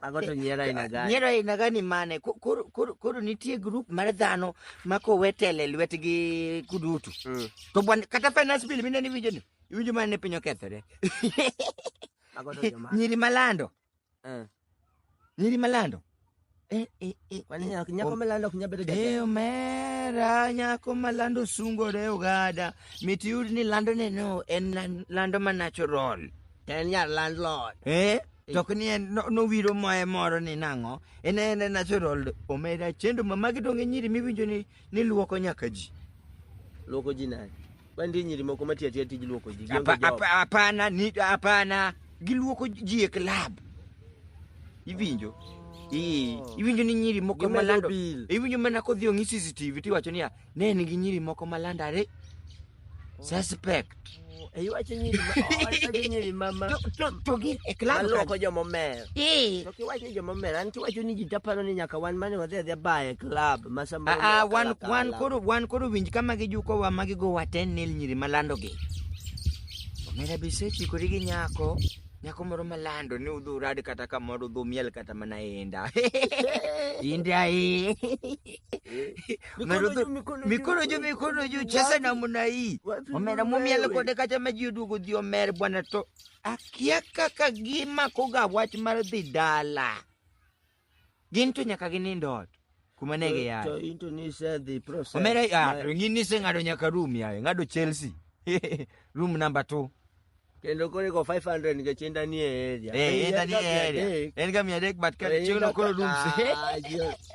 Mago to nyiero aina gani? Nyiero aina gani mane? Ko- Koro koro- koro nitie grup mar dhano ma kowe tele lwetgi kudutu. Mm. To bwan kata finance bill mine niwinjo ni iwinjo mana ni piny okethore. Mago to joma. Nyiri malando, Eh. nyiri malando. Eh, eh, eh, mani nyako- nyako malando ok nyal bedo jatelo. Eh, omera nyako malando sungore ogada mit yud ni lando neno en lan- lando ma natural En nyar landlord. eh to ok ni en no- nowiro moye moro ni nang'o en en natural omera chendo ma magi donge nyiri miwinjo ni Ni luoko nyaka ji. Luoko ji nani? Bandi nyiri moko matiyo atiya tij luoko ji. Gionge Apa- job. apa- Hapana, ni hapana. Giluoko ji e club. Iwinjo? Ii, iwinjo ni nyiri moko Gimedo malando. bill. Iwinjo mana kodhi ong'i CCTV tiwacho niya, ne en gi nyiri moko malandare. suspect iwacho nyiri ma- iwacho nyiri ma- ma- To- to- to gin e club maloko kanyo. jomomer Eh, to kiwacho ni jomomer an kiwacho ni ji taparo ni nyaka wan mane wadhi adhia baye club ma sama ah, ah, wan kalakala. wan koro wan koro winj kama gijukowa ma gigowa ten nil nyiri malandogi omera be isechikori gi nyako nyako moro malando ni udhi urad kata kamoro udhi umiel kata mana inda inda eh. Mikono juu, mikono juu. mikono juu mikono juu cheza Wapi? namna hii Wapi omera wewe? mumiel kode kata ma ji oduogo dhi omer bwana to akia kaka gimakoga wach mar dhi dala gin to nyaka ginind ot kuma ne To giyaye into ni isedhi process. omera ah, Ma- ng'ini iseng'ado nyaka rum yaye ng'ado chelsea rum namba two kendo koro iko 500 nikech inda ni e area Eh, enda ni e area. En ga mia adek but ka chiegno koro rooms.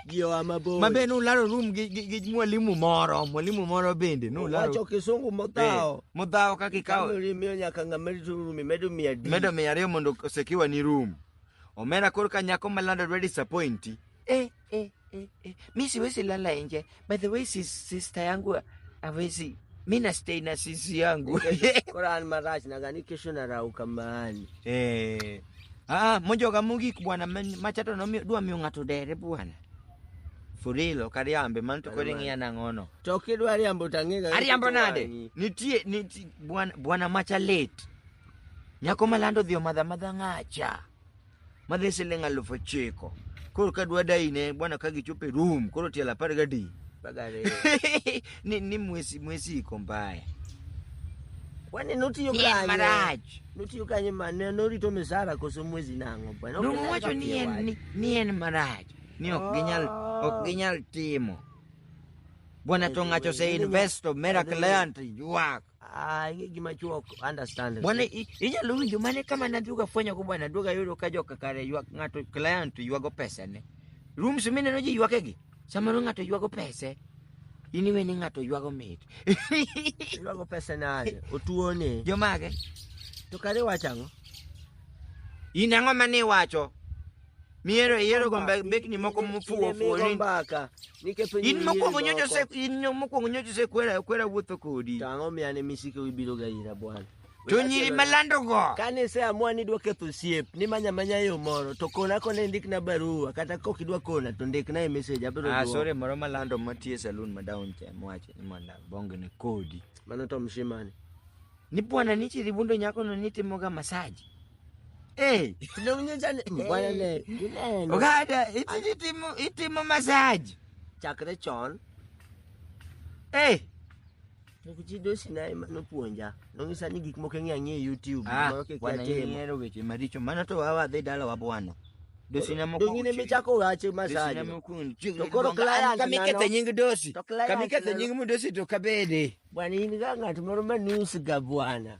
ji oa mabor Mabe nularo room gi gi- gi mwalimu moro, mwalimu moro bende nularo. wacho kisungu Eh, modhawo Modhawo kaka ikawo kamori miyo nyaka ng'a medo turu mimedo mia di medo mia ariyo mondo osekiwa ni room. Omera koro ka nyako malando dwa disappointi. Eh, eh, eh, eh. Mi siwezi lala nje. By the way, sis, sister yangu hawezi. Mi na stay na sisi yangu. Quran Maraj nadhani kesho narauka mahali. Eh. Ah, mojo kamugi bwana men- machato no mi- dwa miyo ng'ato dere bwana. Furilo kariambe man to Kare kodi man. ng'iya nang'ono. To kidwa riambo tang'ega. Ariambo nade? Nitie nitie bwana bwana macha late. Nyako malando dhi omadha madha ng'acha. madhi siling' aluf ochiko koro ka dwa dayine bwana ka gichopo e room koro tielo apar gadi Bagare. ni, ni mwesi mwesi iko mbaya Kwani notiyo Pien kanye? marach. Notiyo kanye mane norito misara koso mwezi nang'o bwana? Ok nyal nowacho ni en wach. ni- ni en marach ni ok ginyal ok ginyal timo bwana to ng'ato ose invest of miracle land ywak Ah, ing'e gima chuo ok understand. Bwana i- inyalo winjo mane kama nadhuga fwenyo go bwana duoga yudo ka joka kare ywak ng'ato client ywago pesane. Rooms mineno ji ywakegi samoro ng'ato ywago pese in iwe ni ng'ato ywago mit. Iwago pesa nade? Otuo ni. Jomage To kare wacho ang'o? in ang'o mane iwacho? Miero iyiero gombe bekni moko mofuwo ofuwo ni in mokwongo nyocha ose in nyo- mokwongo nyocha osekwera kwera wuotho kodi Tang'o miya ni misiko ibiro ga ira bwana. to nyiri malandogo Kane iseamua ni idwa ketho osiep, ni manya manya yo moro, to kona kona indikna barua, kata kok idwa kona, to ndikna e message, abiro Ah, duoko. sorry moro malando matie saloon ma down cha mowacho ni mondo abongene kodi Mano to mshimani. Ni bwana ni chiribundo nyako no ni timoga massage. Eh, Tunaunya jana. bwana le. Tuneno. Ogada iti itimo itimo massage. Chakre chon. Eh, Nikuchido sinai mano puonja. Nongisa ni gik moko ng'e ang'e YouTube. ah, Mano kik bwana atimo. ni ero weche maricho. Mano to wawa dhi dala wa bwana. Dosi na moko. Dongine michako wache Dosi na masaje. moko. To koro client Kamikethe nano- nying dosi. To client Kamikethe nano- nying mu dosi to kabede. Bwana ini kanga tumaromba nusu ga bwana.